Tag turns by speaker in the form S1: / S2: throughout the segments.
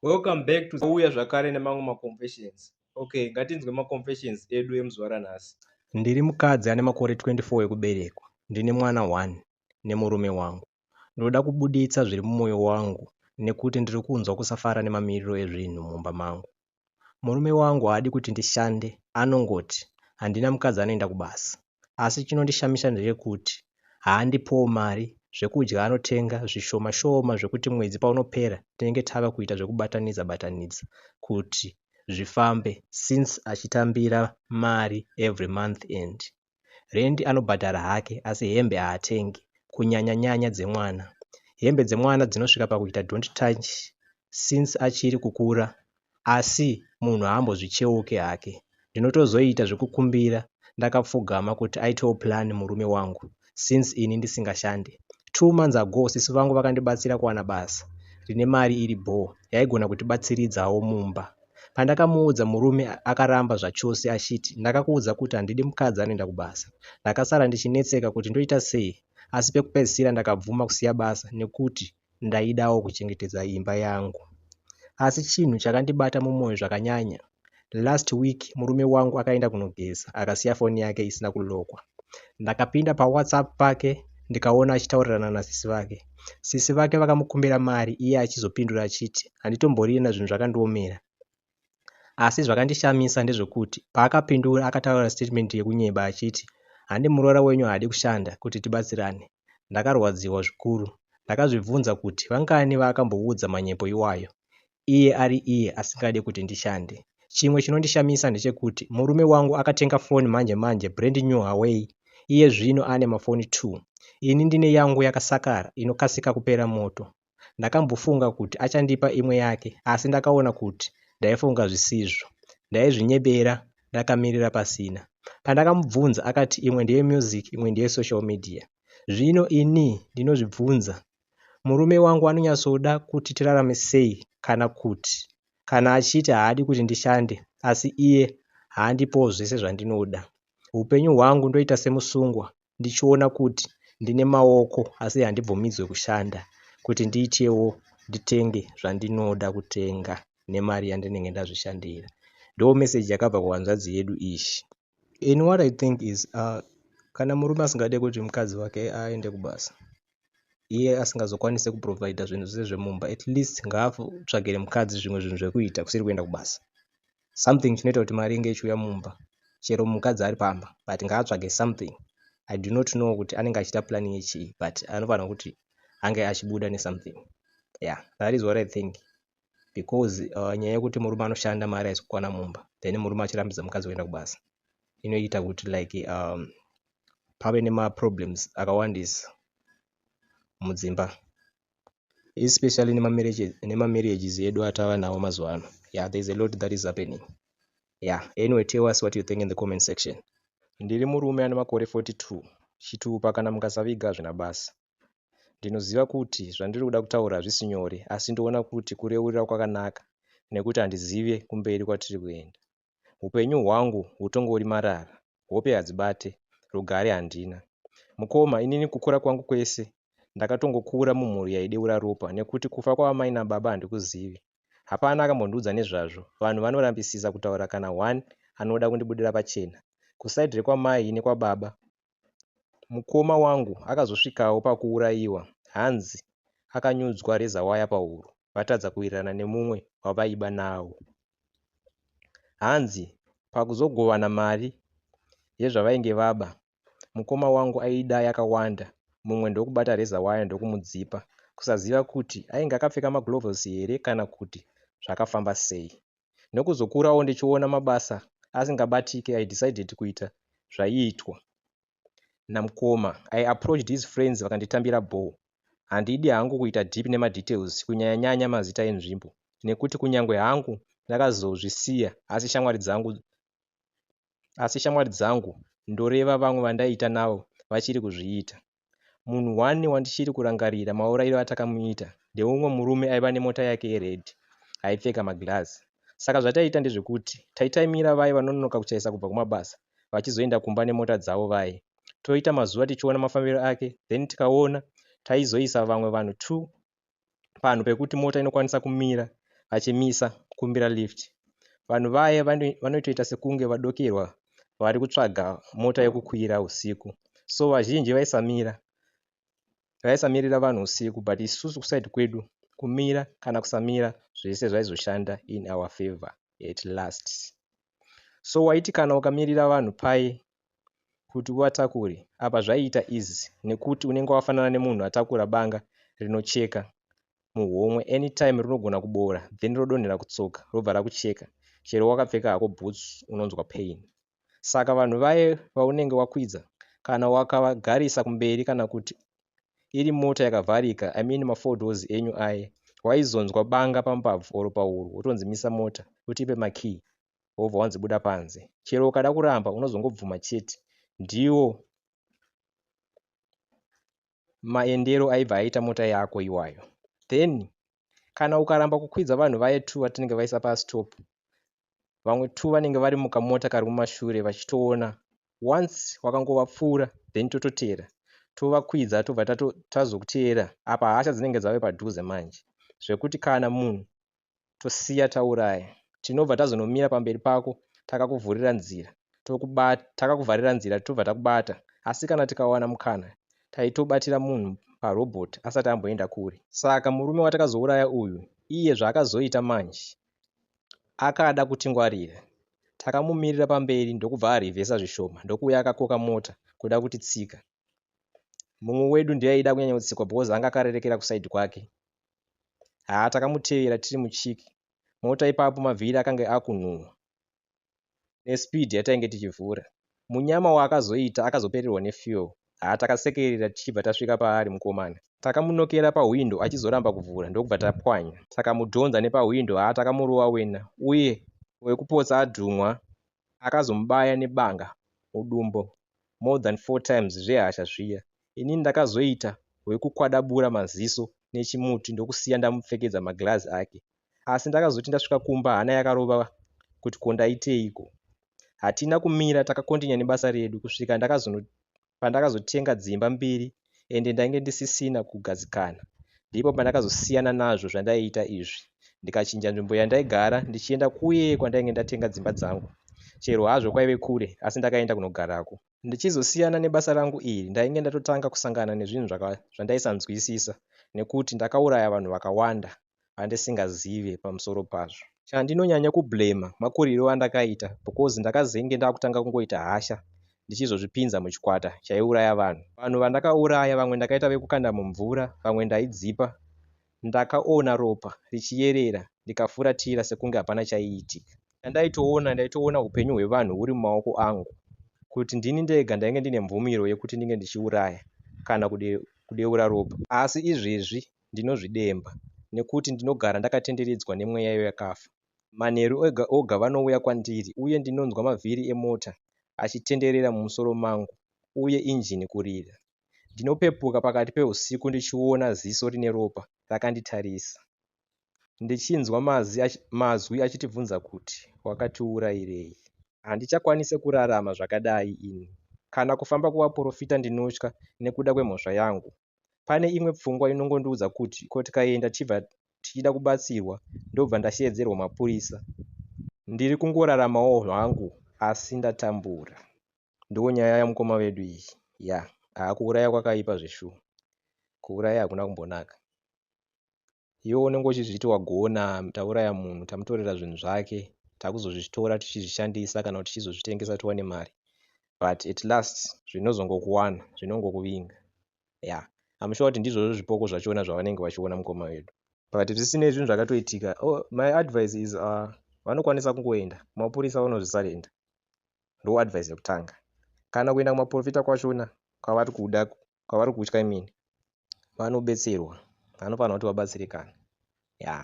S1: welcome back to uya zvakare nemamwe maconfessions okay ngatinzwe maconfessions edu emuzuva ranhasi ndiri mukadzi ane makore 24 ekuberekwa ndine mwana 1 nemurume wangu ndinoda kubuditsa zviri mumwoyo wangu nekuti ndiri kunzwa kusafara nemamiriro ezvinhu mumba mangu Murume wangu haadi kuti ndishande anongoti handina mukadzi anoenda kubasa asi chinondishamisa ndechekuti haandipowo mari zvekudya anotenga zvishoma shoma zvekuti mwedzi paunopera tinenge tava kuita zvekubatanidza batanidza kuti zvifambe since achitambira mari every month end Rendi anobhadhara hake asi hembe haatengi kunyanya nyanya dzemwana. Hembe dzemwana dzinosvika pakuita don't touch since achiri kukura asi munhu haambozvicheuke hake. Ndinotozoita zvekukumbira ndakapfugama kuti aitewo plan murume wangu since ini ndisingashande. Two months ago sisi vangu vakandibatsira kuwana basa rine mari iri bhoo yaigona kutibatsiridzawo mumba. Pandakamuudza murume akaramba zvachose achiti ndakakuudza kuti handidi mukadzi anoenda kubasa. Ndakasara ndichinetseka kuti ndoita sei asi pekupedzisira ndakabvuma kusiya basa nekuti ndaidawo kuchengetedza imba yangu. Asi chinhu chakandibata mumwoyo zvakanyanya. Last week murume wangu akaenda kunogeza akasiya foni yake isina kulokwa. Ndakapinda paWhatsApp pake ndikaona achitaurirana nasisi vake. Sisi vake vakamukumbira mari iye achizopindura achiti, Handitomborire nazvinhu zvakandiomera. Asi zvakandishamisa ndezvekuti paakapindura akataura statement yekunyeba achiti, Handi muroora wenyu haadi kushanda kuti tibatsirane. Ndakarwadziwa zvikuru. Ndakazvibvunza kuti vangani vaakamboudza manyepo iwayo. iye ari iye asingade kuti ndishande. Chimwe chinondishamisa ndechekuti murume wangu akatenga foni manje manje brand new Huawei iye zvino ane mafoni two. Ini ndine yangu yakasakara inokasika kupera moto. Ndakambofunga kuti achandipa imwe yake asi ndakaona kuti ndaifunga zvisizvo. Ndaizvinyebera ndakamirira pasina. Pandakamubvunza akati imwe ndeye music imwe ndeye social media. Zvino ini ndinozvibvunza Murume wangu anonyatsoda kuti tirarame sei kana kuti kana achiti haadi kuti ndishande asi iye haandipowo zvese zvandinoda. Upenyu hwangu ndoita semusungwa ndichiona kuti ndine maoko asi handibvumidzwe kushanda kuti ndiitewo nditenge zvandinoda kutenga nemari yandinenge ndazvishandira. Ndoo message yakabva kuhanzvadzi yedu iyi. in what i think is uh, kana murume asingade kuti mukadzi wake aende kubasa iye asingazokwanise kuprovida zvinhu zvese zvemumba at least ngaatsvagire mukadzi zvimwe zvinhu zvekuita kusiri kuenda kubasa something chinoita kuti mari inge ichiuya mumba chero mukadzi ari pamba but ngaatsvage something i do not know kuti anenge achiita planning yechii but anofanira kuti ange achibuda nesomething yeah that is what i think because uh, nyaya yekuti murume anoshanda mari haisi kukwana mumba then murume achirambidza mukadzi kuenda kubasa inoita kuti like um, pave nemaproblems akawandisa mudzimba especially nemamarriages edu atava nawo mazuva ano yeah there's a lot that is happening yeah anyway tell us what you think in the comment section ndiri murume ane makore 42 chitupa kana mukasaviga hazvina basa Ndinoziva kuti zvandiri kuda kutaura hazvisi nyore asi ndoona kuti kureurira kwakanaka nekuti handizive kumberi kwatiri kuenda. Hupenyu hwangu hutongori marara, hope hadzibate, rugare handina. Mukoma, inini kukura kwangu kwese ndakatongokura mumhuri yaideura ropa nekuti kufa kwaamai nababa handikuzivi. Hapana akambondiudza nezvazvo, vanhu vanorambisisa kutaura kana one anoda kundibudira pachena. Kuside rekwamai nekwababa Mukoma wangu akazosvikawo pakuurayiwa hanzi akanyudzwa razor wire pahuro vatadza kuwirirana nemumwe wavaiba nawo. Hanzi pakuzogovana mari yezvavainge vaba, mukoma wangu aida yakawanda mumwe ndokubata razor wire ndokumudzipa kusaziva kuti ainge akapfeka magloves here kana kuti zvakafamba sei. nekuzokurawo ndichiona mabasa asingabatike i decided kuita zvaiitwa namukoma i approached his friends vakanditambira bhoo handidi hangu kuita deep nemadetails kunyanyanyanya mazita enzvimbo nekuti kunyange hangu ndakazozvisiya asi shamwari dzangu asi shamwari dzangu ndoreva vamwe vandaiita navo vachiri kuzviita Munhu one wandichiri kurangarira maurayiro atakamuita ndeumwe murume aiva nemota yake yered aipfeka maglass. Saka zvataiita ndezvekuti taitaimira vaye vanonoka kuchaisa kubva kumabasa vachizoenda kumba nemota dzavo vaye. Toita mazuva tichiona mafambiro ake then tikaona taizoisa vamwe vanhu two panhu pekuti mota inokwanisa kumira vachimisa kumbira lift vanhu vaye vanotoita sekunge vadokerwa vari kutsvaga mota yekukwira usiku so vazhinji vaisamira vaisamirira vanhu usiku but isusu kusaidi kwedu kumira kana kusamira zvese zvaizoshanda in our favor at last so waiti kana ukamirira vanhu pai kuti uatakure apa zvaiita easy nekuti unenge wafanana nemunhu atakura banga rinocheka muhomwe anytime rinogona kuboora then rodonhera kutsoka robva rakucheka chero wakapfeka hako boots unonzwa pain saka vanhu vaye vaunenge wakwidza kana wakavagarisa kumberi kana kuti iri mota yakavharika i mean mafodos enyu aye waizonzwa banga pambabvu or pahuru wotonzimisa mota utipe makey wobva wanzi buda panze chero ukada kuramba unozongobvuma chete ndiwo maendero aibva aita mota yako iwayo then kana ukaramba kukwidza vanhu vaye two vatinenge vaisa pastop vamwe two vanenge vari mukamota kari mumashure vachitoona once wakangovapfuura then tototeera tovakwidza tobva tazokuteera apa hasha dzinenge dzave padhuze manje zvekuti kana munhu tosiya tauraya, tinobva tazonomira pamberi pako takakuvhurira nzira, takakuvharira nzira tobva takubata, asi kana tikawana mukana taitobatira munhu parobot asati amboenda kure. Saka murume watakazouraya uyu iye zvaakazoita manje akada kutingwarira, takamumirira pamberi ndokubva arivhesa zvishoma ndokuuya akakoka mota kuda kutitsika. Mumwe wedu ndiye aida kunyanyotsikwa because anga akarerekera kusaidi kwake haa takamutevera tiri muchiki mota ipapo mavhiri akange akunhuhwa nespeed yatainge tichivhura munyama waakazoita akazopererwa nefuel haa takasekerera tichibva tasvika paari mukomana takamunokera pahwindo achizoramba kuvhura ndokubva tapwanya takamudhonza nepahwindo haa takamurova wena uye wekupotsa adhumwa akazomubaya nebanga mudumbu more than four times zvehasha zviya. Inini ndakazoita wekukwadabura maziso nechimuti ndokusiya ndamupfekedza maglazi ake. Asi ndakazoti ndasvika kumba hana yakarova kuti ko ndaiteiko. Hatina kumira takakontinya nebasa redu kusvika ndakazono pandakazotenga dzimba mbiri ende ndainge ndisisina kugadzikana. Ndipo pandakazosiyana nazvo zvandaiita izvi ndikachinja nzvimbo yandaigara ndichienda kuye kwandainge ndatenga dzimba dzangu. Chero hazvo kwaive kure asi ndakaenda kunogarako. Ndichizosiyana nebasa rangu iri ndainge ndatotanga kusangana nezvinhu zvandaisanzwisisa nekuti ndakauraya vanhu vakawanda andisingazive pamusoro pazvo. Chandinonyanya kublamer makurirwo andakaita because ndakazenge ndakutanga kungoita hasha ndichizozvipinza muchikwata chaiuraya vanhu. Vanhu vandakauraya vamwe ndakaita vekukanda mumvura vamwe ndaidzipa. Ndakaona ropa richiyerera ndikafuratira sekunge hapana chaiitika. Chandaitoona ndaitoona hupenyu hwevanhu huri mumaoko angu kuti ndini ndega ndainge ndine mvumiro yekuti ndinge ndichiuraya kana kudeura ropa asi izvezvi ndinozvidemba nekuti ndinogara ndakatenderedzwa nemweya yevakafa. Manheru oga oga vanouya kwandiri uye ndinonzwa mavhiri emota achitenderera mumusoro mangu uye injini kurira. Ndinopepuka pakati pehusiku ndichiona ziso rine ropa rakanditarisa ndichinzwa mazwi achitibvunza kuti, Wakatiurairei? Handichakwanise kurarama zvakadai ini. Kana kufamba kuvaporofita ndinotya nekuda kwemhosva yangu. Pane imwe pfungwa inongondiudza kuti ko tikaenda tichibva tichida kubatsirwa ndobva ndasheedzerwa mapurisa. Ndiri kungoraramawo hangu asi ndatambura. Ndonyaya yamukoma vedu iyi ya haa kuuraya kwakaipa zveshuwa kuuraya hakuna kumbonaka. Iwewe unenge uchizviti wagona tauraya munhu tamutorera zvinhu zvake takuzozvitora tichizvishandisa kana kuti tichizozvitengesa tiwane mari but at last zvinozongokuwana zvinongokuvinga ya I'm sure kuti ndizvozvo zvipoko zvachona zvavanenge vachiona mukoma wedu but zvisinei zvinhu zvakatoitika oh, my advice is uh, vanokwanisa kungoenda kumapurisa vanozvisarenda ndo advice yekutanga kana kuenda kumaprofita kwachona kwavari kuda kwavari kutya imini vanobetserwa vanofanira kuti vabatsirikane ya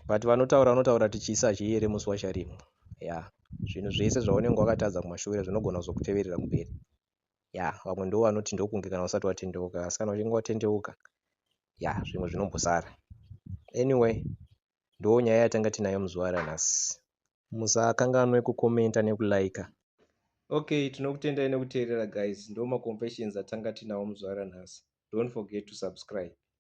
S1: but vanotaura vanotaura kuti chisi hachiere musi wacharimwa ya zvinhu zvese zvaunenge wakatadza kumashure zvinogona kuzokuteverera kumberi ya vamwe ndo vanoti ndokunge kana usati watendeuka asi kana uchinge watendeuka ya zvimwe zvinombosara anyway Ndoo nyaya yatanga tinayo muzuva ranhasi. Musakanganwe ku commenter neku liker. Ok tinokutendai nekuteerera guys ndoo ma confessions atanga tinawo muzuva ranhasi don't forget to subscribe.